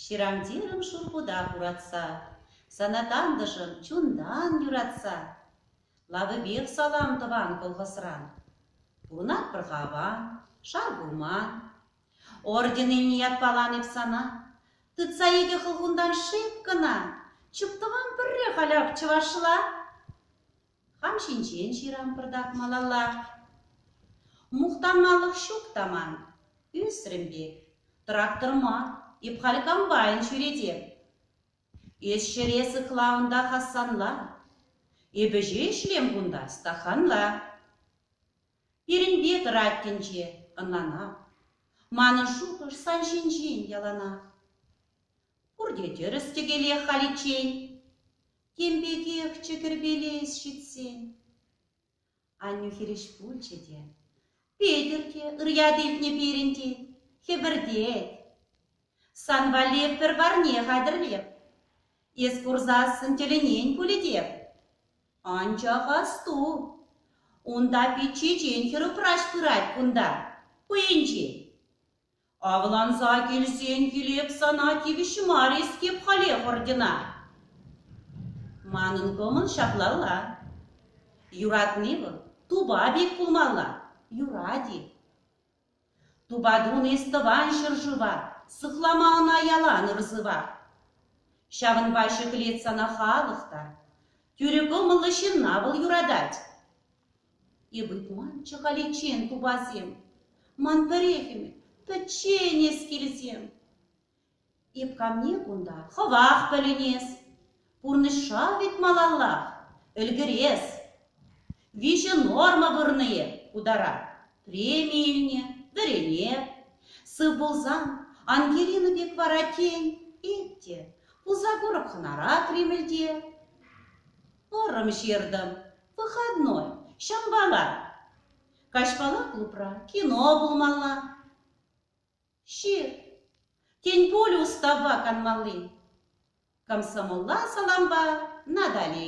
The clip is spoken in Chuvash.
Ҫырантирӑм шурпута хуратса, Сана тантӑшӑм чунтан юратса, Лавӗпех салам тӑван колхозран. Пурӑнать пӗр-ха аван, шар пулман. Орденене ятпалан эп сана, Тытса икӗ хӑлхунтан шеп кӑна, Чуптӑвам пӗрре халь ак чӑвашла. Хам ҫинчен ҫырампӑртак малалла. Мухтанмалӑх ҫук та ман. Ӳсрӗм пек. Трактор мар, эп халь комбайн ҫӳретеп. Эс ҫӗре сыхла унта Хасанла. Эпӗ ӗҫе ӗҫлем кунта стаханла. Пирӗнпе тӑрать тӗнче, ӑнланап. Манӑн шухӑш сан ҫинчен яланах. Пурте тӗрӗс тӗкеле халиччен. Тем пекех чӗкӗрпелес ҫитсен. Аннӳ хирӗҫ пулчӗ те. Петӗр те ырьят илтнӗ пирӗн тет, хӗпӗртет. Сан валли пӗр парне хатӗрлеп. Эс курсассӑн тӗлӗнен пулӗ теп. Анчах асту, унта пит чечен хӗрупраҫ пырать кунта, хӑйӗнчен. Авланса килсен килеп сана тивӗҫ мар-искеп халех ордена. Манӑн кӑмӑл ҫаплалла. Юратни вӑл тупа пек пулмалла, юрать-и. Тупа тун эс тӑван ҫӗршыва, сыхлама ӑна ялан ырсыва. Ҫавӑнпа ҫӗклет сана халӑх та, тӳрӗ кӑмӑллӑ ҫынна вӑл юратать. Эпӗ куланччӗ халиччен тупасем, Ман пӗрехӗмӗр пӗччен эс килсем. Эп камне кунта хӑвах пӗлӗнес, Пурнӑҫра вӗт малаллах ӗлкӗрес. Виҫӗ норма вырнӑ эп утара, Преми илнӗ, вӗрене. Сыв пулсан Ангелина пек вара тен, Эп те пулса курӑп хӑнара Кремльте. Вӑрӑм ҫыртӑм, выходной. Ҫавӑнпа мар. Каҫпала клубра кино пулмалла. Ҫыр. Тен пуль уставпа канмалли? Комсомолла салампа Натали.